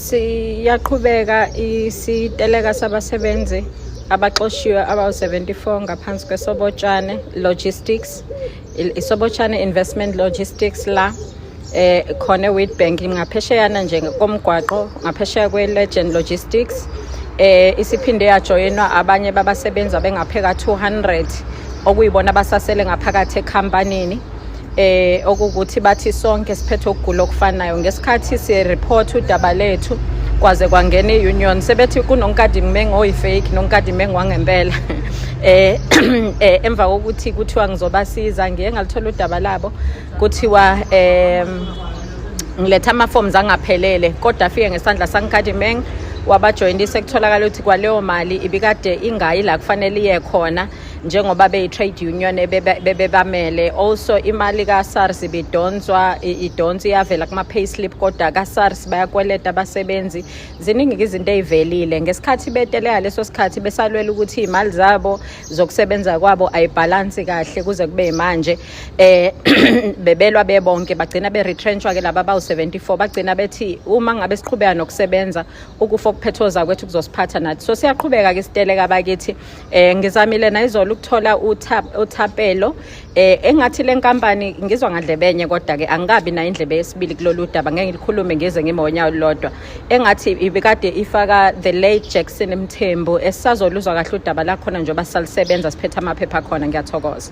Siyaqhubeka isiteleka sabasebenzi abaxoshiwe abawu-74 ngaphansi kwesobotshane logistics isobotshane investment logistics la eh khona eWitbank ngaphesheyana nje komgwaqo ngaphesheya kweLegend Logistics eh isiphinde yajoyinwa abanye babasebenzi abengapheka 200 okuyibona abasasele ngaphakathi ekhampanini eh okukuthi bathi sonke siphethe ukugula okufanayo ngesikhathi sireport udaba lethu kwaze kwangena i-union sebethi kunonkadimeng oyifake nonkadimeng wangempela eh, eh emva kokuthi kuthiwa ngizobasiza ngiye ngalithola udaba labo kuthiwa em ngiletha ama-forms angaphelele kodwa afike ngesandla sankadimeng wabajoyinisa kutholakala ukuthi kwaleyo mali ibikade ingayi la kufanele iye khona njengoba beyi-trade union bebebamele also imali ka-sars ibidonswa idonsa iyavela kuma-payslip kodwa ka-sars bayakweleta abasebenzi ziningi-ke izinto ey'velile ngesikhathi beteleka leso sikhathi besalwela ukuthi iy'mali zabo zokusebenza kwabo ayibhalansi kahle kuze kube yimanje um eh, bebelwa bebonke bagcina be-retrenshwa-ke laba bawu-74 bagcina bethi uma ngabe siqhubeka nokusebenza ukufa okuphethoza kwethu kuzosiphatha nathi so siyaqhubeka-ke siteleka bakithi eh ngizamile nayizolo ukuthola uthapelo eh engathi lenkampani ngizwa ngadlebenye kodwa ke angikabi na indlebe yesibili kulolu daba ngeke ngilikhulume ngize ngimonya olodwa engathi ibikade ifaka the late Jackson Mthembu esazoluzwa kahle udaba la khona njengoba salisebenza siphetha amaphepha khona ngiyathokoza